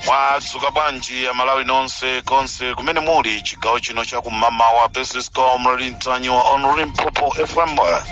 mwadzuka bwanji amalawi nonse konse kumene muli chigawo chino chakumamawa this is comrade mtanyiwa on limpopo fm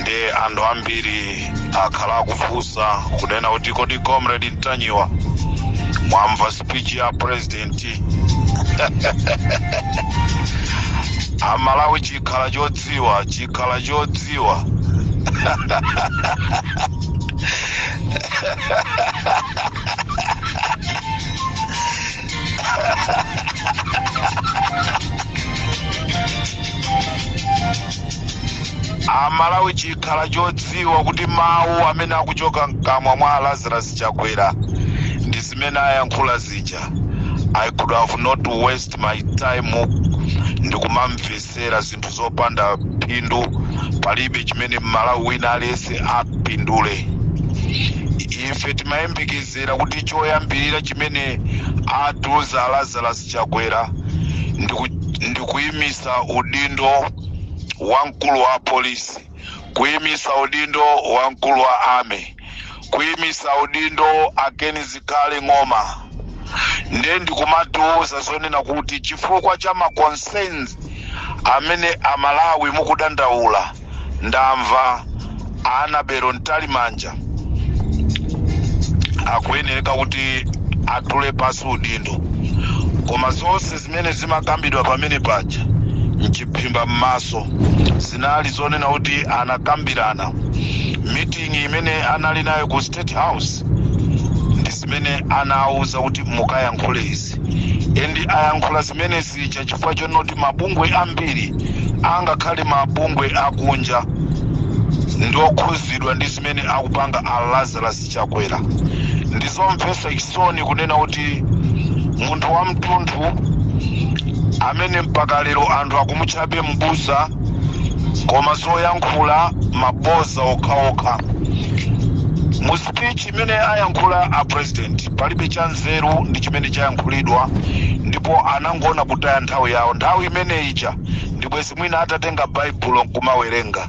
ndi anthu ambiri akhala akufunsa kunena kuti kodi comrade mtanyiwa mwamva speech ya president amalawi chikhala chodziwa chikhala chodziwa amalawi chikhala chodziwa kuti mawu amene akuchoka mkamwa mwa lazarus chakwera ndi zimene ayankhula zija i could have not waste my time ndikumamvesa kumamvetsera zinthu zopanda phindu palibe chimene mmalawi wina aliyense apindule ife timayembekezera kuti choyambirira chimene atiuza a lazarus chakwera ndikuimisa udindo wa mkulu wa polisi kuimisa udindo wa mkulu wa army kuimisa udindo a ken zikhale ng'oma nde nkumatiuza zonena kuti chifukwa cha maconcerns amene amalawi mukudandaula ndamva a annabel mtalimanja akuyeneka kuti atule pansi udindo koma zonse Zimene zimakambidwa pamene paja m'chiphimba m'maso zinali zonena kuti anakambirana miting'i imene anali nayo ku State House ndi zimene anawauza kuti mukayankhule izi and ayankhula zimene zija chifukwa chonoti mabungwe ambiri angakhale mabungwe akunja ndi okhuzidwa ndi zimene akupanga a Lazarus Chakwera. Ndizomvesa chisoni kunena kuti munthu wamtunthu amene mpaka lero anthu akumutchabe m'busa koma zoyankhula maboza okhaokha. Mu speech imene ayankhula a president palibe cha nzeru ndi chimene chayankhulidwa ndipo anangoona kutaya nthawi yawo. Nthawi imene ija ndi bwezi mwina atatenga baibulo nkumawerenga.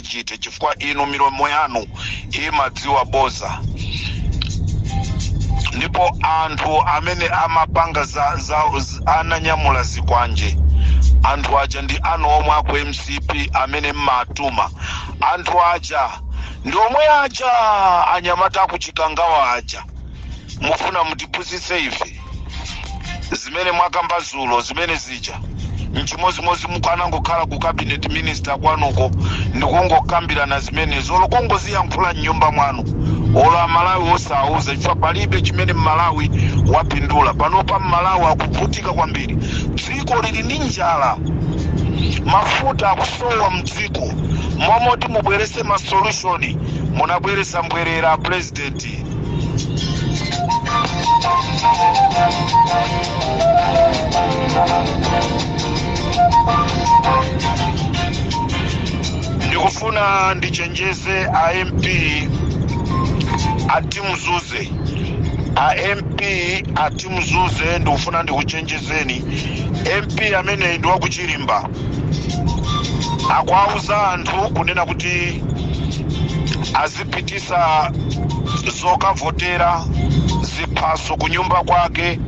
chiti? Chifukwa inu milomo yanu imadziwa boza ndipo anthu amene amapanga za, za, z- ananyamula zikwanje anthu aja ndi anu omwe aku mcp amene mmatuma anthu aja ndi omwe aja anyamata akuchikangawa aja mufuna mutipusitse ife zimene mwakamba zulo zimene zija nchimozimozi mukanangokhala ku cabinet minister kwanuko ndikungokambirana zimenezo olo kungoziyankhula mnyumba mwanu olo amalawi osawauza chifukwa palibe chimene mmalawi wapindula panopa mmalawi akuvutika kwambiri dziko lili ndi njala mafuta akusowa mdziko mmomoti mubwerese masolushoni munabwereza mbwerera a president ndikufuna ndichenjeze a mp atimuzuze a mp atimuzuze ndikufuna ndikuchenjezeni mp ameneyi ndi wakuchilimba akuwauza anthu kunena kuti azi pitisa zokavotera ziphaso ku nyumba kwake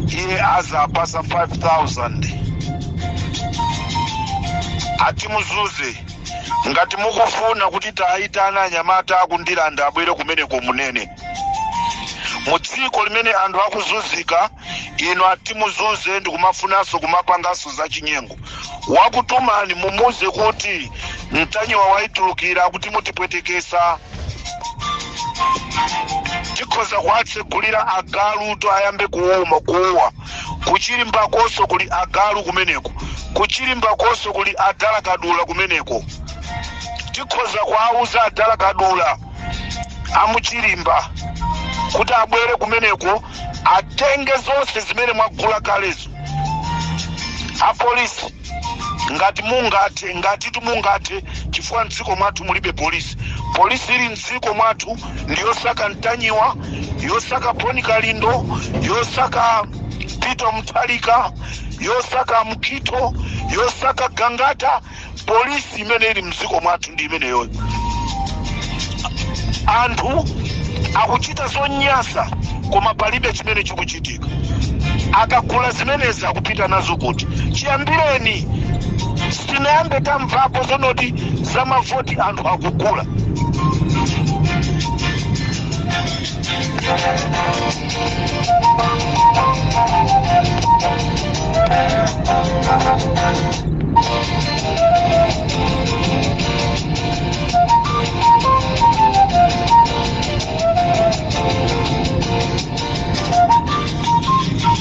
iye azapasa 5000 ati muzuze ngati mukufuna kuti tiyitane anyamata aku ndirande abwere kumeneko munene mu dziko limene anthu akuzunzika inu ati muzuze ndikumafunanso kumapanganso zachinyengo wakutumani mumuuze kuti ntanyiwa waitulukira kuti mutipwetekesa tikhoza kuwatsegulira agalutu ayambe kuuma kuuwa kuchilimba konso kuli agalu kumeneko kuchilimba konso kuli a dala kadula kumeneko tikhoza kuwauza adala kadula amuchilimba kuti abwere kumeneko atenge zonse zimene mwagula kalezo apolisi ngati mungathe ngatitu mungathe chifukwa mdziko mwathu mulibe polisi polisi ili mdziko mwathu ndi yosaka ntanyiwa yosaka bon kalindo yosaka peter mutharika yosaka mchitho yosaka gangata polisi imene ili mdziko mwathu ndi imeneyoyo anthu akuchita zonyasa koma palibe chimene chikuchitika akagula zimenezi akupita nazo kuti chiyambireni sitinayambe tamvapo zonoti za mavoti anthu akugula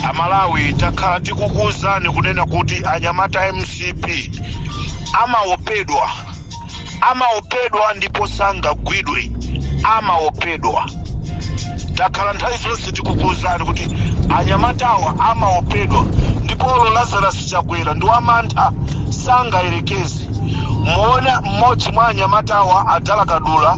amalawi takhala tikukuwuzani kunena kuti anyamata a mcp amaopedwa amaopedwa ndipo sangagwidwe amaopedwa takhala nthawi zonse tikukuwuzani kuti anyamatawa amaopedwa ndipo lazarus chakwera ndi wamantha sangayerekeze muona mmodzi mwa anyamatawa adala kadula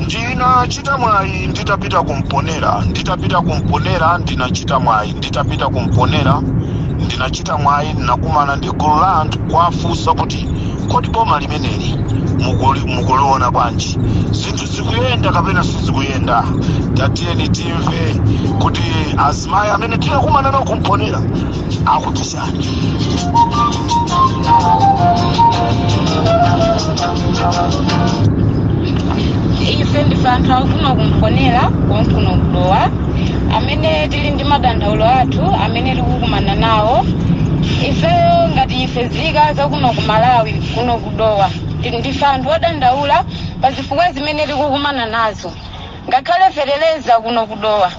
ndinachita mwayi nditapita kumponera nditapita kumponera ndinachita mwayi nditapita kumponera ndinachita mwayi ndinakumana ndi gulu la anthu kuwafunsa kuti kodi boma limeneli mukuli- mukuliona bwanji zinthu zikuyenda kapena sizikuyenda tatiyeni timve kuti azimayi amene tinakumana nawo kumponera akuti chani ife ndife anthu akuno kumponera konkuno kudowa amene tili ndi madandaulo athu amene tikukumana nawo ifeyo ngati ife zika zakuno ku malawi kuno kudowa ndife anthu odandaula pa zifukwa zimene tikukumana nazo ngakhale feteleza kuno kudowa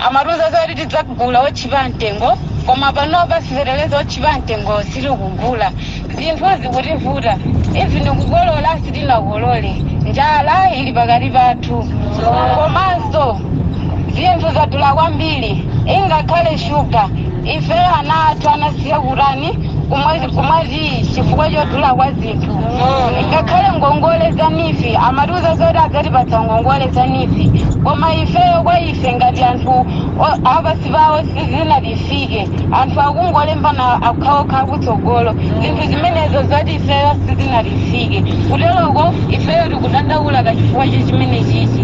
amatiuza zoti tidzagula otchipa mtengo koma panopa si feteleza otchipa mtengo sitikugula zinthu zikutivuta even kukolola sitinakolole njala ili pakati pathu komanso zinthu zadula kwambiri ngakhale shuga ife ana athu anasiya kutani kumwa tiyi chifukwa chodula kwa zinthu zinthu ngakhale ngongole za nifi amatiuza zoti adzatipatsa ngongole za nifi koma ifeyo kwa ife ngati anthu apansi pawo sizinatifike anthu akungolembana okhaokha akutsogolo zinthu zimenezo zoti ifeyo sizinatifike kuteroko ifeyo tikudandaula ka chifukwa cha chimene chichi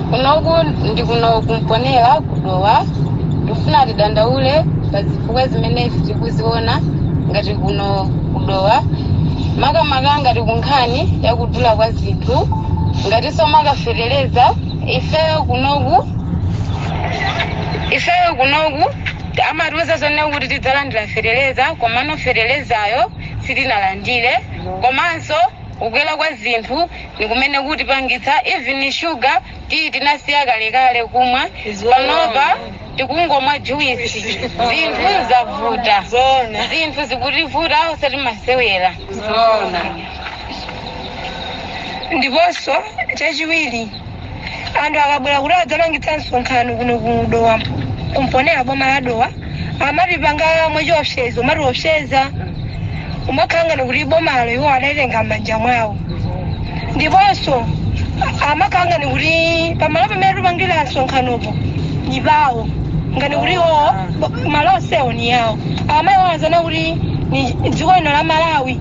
kunoku ndi kuno ku Mponela ku Dowa tikufuna tidandaule pa zifukwa zimene ife tikuziona ngati kuno ku Dowa makamaka ngati kunkhani yakudula kwa zinthu ngatinso makafetereza ifeyo kunoku ifeyo kunoku amatiuza zonama kuti tidzalandira fetereza komano feterezayo sitinalandire komanso kukwera kwa zinthu ndi kumene kukutipangitsa even sugar tea tinasiya kalekale kumwa panopa tikungomwa juice zinthu zavuta zinthu zikutivuta osati masewera ndiponso chachiwiri anthu akabwera kuti adzapangitsa msonkhano kuno ku Dowa ku Mponela boma la Dowa amatipanga mwachiopsezo kumatiopseza kumakhala ngati kuti bomalo iwo adalitenga m'manja mwawo ndiponso amakhala ngati kuti pamalo pamene tipangira msonkhanopo ndi pawo ngati kuti iwowo malo onsewo ndi awo amaiwala zoona kuti ni dziko lino la Malawi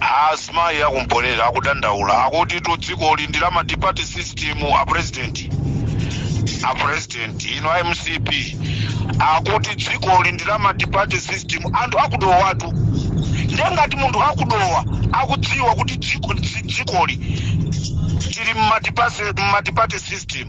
Azimayi aku Mponela akudandaula akutitu dzikoli ndi la multi-party system a president a president inu a MCP akuti dzikoli ndi la multi-party system anthu aku Dowatu ndiye ngati anthu aku Dowa akudziwa kuti dziko- dzi- dzikoli tili mu multi-party system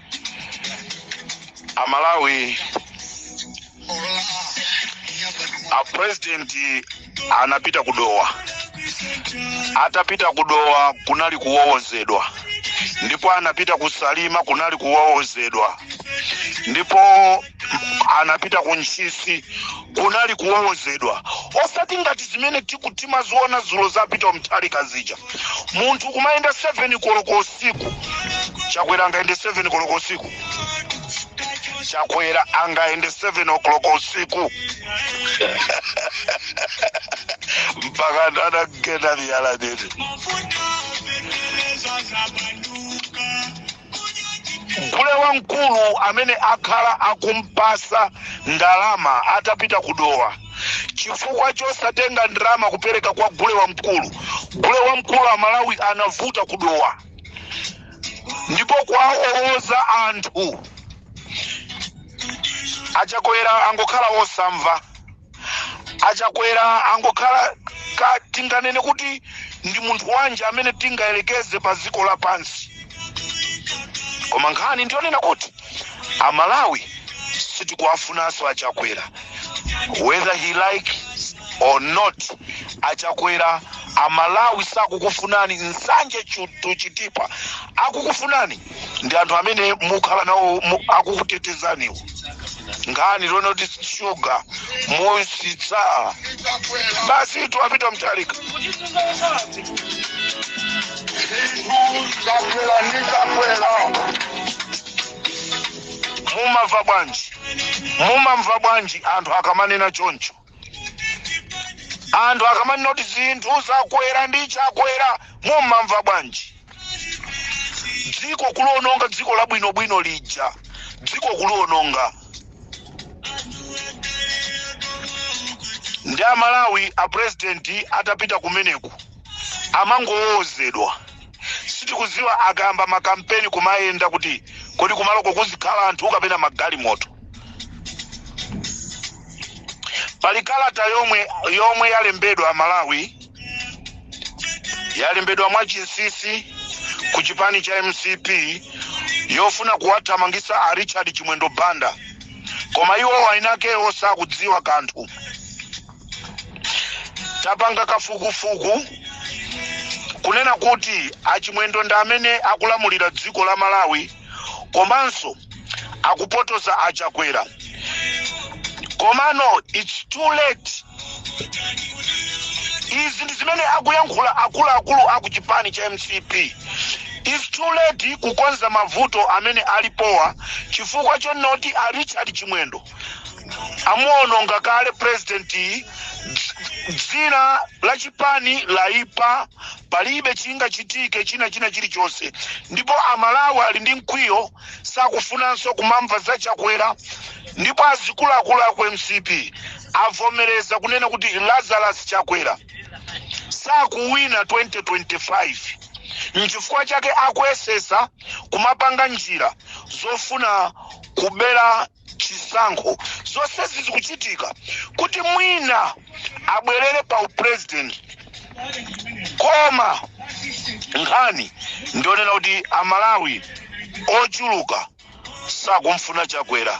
a Malawi apurezidenti anapita ku Dowa atapita ku Dowa kunali kuwowozedwa ndipo anapita ku Salima kunali kuwowozedwa ndipo anapita ku Ntchisi kunali kuwowozedwa osati ngati zimene tiku timaziona dzulo za Peter Mutharika zija munthu kumayenda 7 koloko usiku Chakwera angayende 7 koloko usiku Chakwera angayende 7 o'clock usiku mpaka anagenda miyala nini Gule wamkulu amene akhala akumpasa ndalama atapita ku Dowa chifukwa chosatenga ndalama kupereka kwa gule wamkulu. Gule wamkulu a Malawi anavuta ku Dowa ndipo kuwawowoza anthu a Chakwera angokhala osamva. achakwera angokhala ka tinganene kuti ndi munthu wanji amene tingayerekeze pa dziko lapansi koma nkhani ndiyonena kuti amalawi sitikuwafunanso achakwera whether he like or not achakwera amalawi sakukufunani nsanje tu chitipa akukufunani ndi anthu amene mukhala nawo mu- akukutetezaniwo nkhani yonena kuti shuga musitsa basi tiwapita mtalika mumamva bwanji mumamva bwanji anthu akamanena choncho anthu akamanena kuti zinthu zakwera ndi chakwera mumamva bwanji dziko kuliononga dziko labwinobwino lija dziko kuliononga ndi amalawi apurezidenti atapita kumeneku amangowowozedwa sitikuziwa akayamba makampeni kumayenda kuti kodi kumaloko kuzikhala anthu kapena magalimoto pali kalata yomwe yomwe yalembedwa malawi yalembedwa mwachinsisi ku chipani cha mcp yofuna kuwathamangisa a richard chimwendo banda koma iwo wainakewo sakudziwa kanthu tapanga kafukufuku kunena kuti achimwendo ndi amene akulamulira dziko la malawi komanso akupotoza achakwera komano its too late izi ndi zimene akuyankhula akuluakulu aku chipani cha mcp its too late kukonza mavuto amene alipowa chifukwa chonoti a richard chimwendo amuononga kale president yi dzina la chipani laipa palibe chingachitike china china chilichonse ndipo amalawi ali ndi mkwiyo sakufunanso kumamva za chakwera ndipo azikuluakulu aku mcp avomereza kunena kuti lazarus chakwera sakuwina 2025 nchifukwa chake akuyesesa kumapanga njira zofuna kubera chisankho zonsezi zikuchitika kuti mwina abwerere pa upresident koma nkhani ndionena kuti amalawi ochuluka sakumfuna chakwera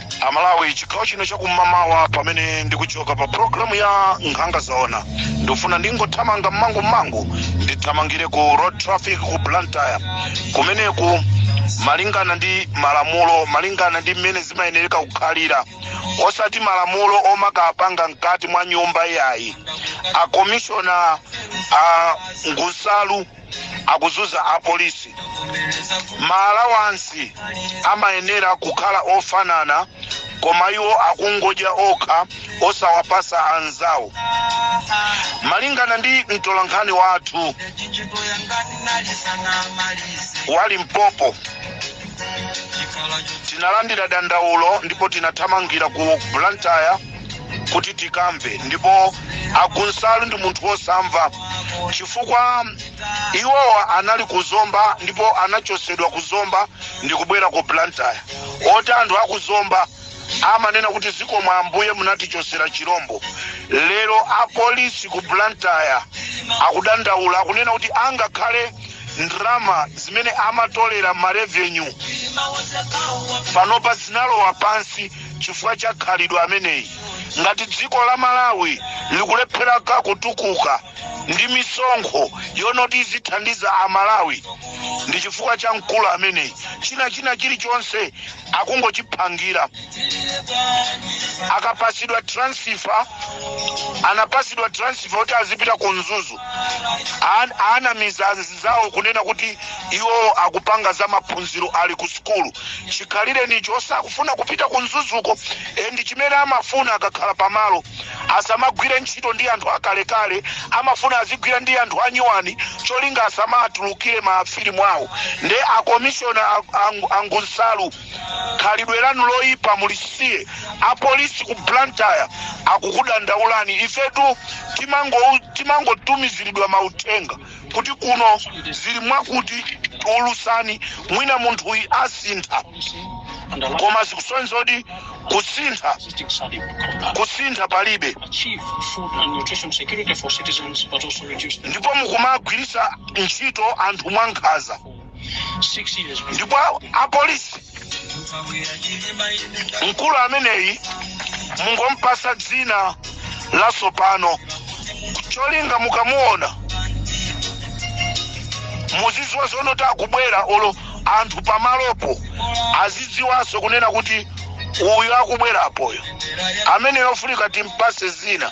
amalawi chigawo chino chakum'mawa pamene ndikuchoka pa pulogalamu ya nkhanga zaona ndikufuna ndingothamanga mmangu mmangu ndithamangire ku road traffic ku blantyre kumeneku malingana ndi malamulo malingana ndi mmene zimayenereka kukhalira osati malamulo omakapanga mkati mwa nyumba yayi akomishona a ngusalu akuzuza apolisi maalawansi amayenera kukhala ofanana koma iwo akungodya okha osawapasa anzawo malingana ndi mtolankhani wathu wali mpopo tinalandira dandaulo ndipo tinathamangira ku blantyre kuti tikamve ndipo angunsalu ndi munthu wosamva chifukwa iwowa anali ku zomba ndipo anachosedwa ku zomba ndi kubwera ku blantyre oti anthu aku zomba amanena kuti zikomo ambuye munatichosera chirombo lero apolisi ku blantyre akudandaula akunena kuti angakhale ndrama zimene amatolera marevenyu panopa zinalowa pansi chifukwa cha khalidwe la ameneyi ngati dziko la malawi likulephera ka kutukuka ndi misonkho yonoti izithandiza amalawi ndi chifukwa cha mkulu ameneyi china china chilichonse akungochiphangira akapasidwa transfer anapasidwa transfer kuti azipita ku mzuzu An- anamiza anzawo kunena kuti iwowo akupanga za maphunziro ali ku sukulu chikhalirenicho osakufuna kupita ku mzuzuko ndi chimene amafuna akakhala pamalo asamagwire ntchito ndi anthu akalekale amafuna azigwira ndi anthu anyuwani cholinga asamaatulukire mafilimu awo nde akomishona angunsalu khalidwe lanu loyipa mulisiye apolisi ku blantyre akukudandaulani ifetu timangotumiziridwa mauthenga kuti kuno zili mwakuti ulusani mwina munthuyi asintha koma zikusonyeza kuti kusintha kusintha palibe ndipo mukumagwirisa ntchito anthu mwankhaza ndipo apolisi mkulu ameneyi mungompasa dzina la sopano cholinga mukamuona muziziwa zonoti akubwera olo anthu pamalopo azidziwanso kunena kuti uyu akubwerapoyo amene yofunika timpase zina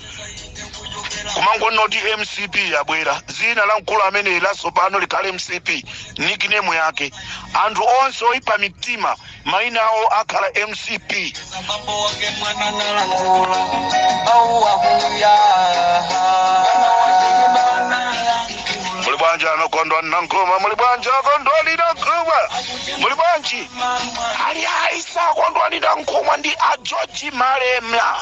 kumangona kuti mcp yabwera zina la mkulu ameneyi latsopano likhale mcp nickname yake anthu onse oyipa mitima maina awo akhala mcp muli bwanji anokondwa nankhoma muli bwanji akondwa linankhoma muli bwanji ali aisa akondwa linankhoma ndi ajoji malemla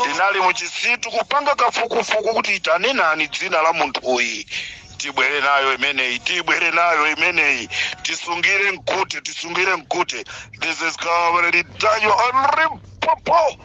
tinali muchisitu kupanga kafukufuku kuti itane nani dzina la munthu uyu tibwere nayo imeneyi tibwere nayo imeneyi tisungire mkute tisungire mkute this is comrade danyo on limpopo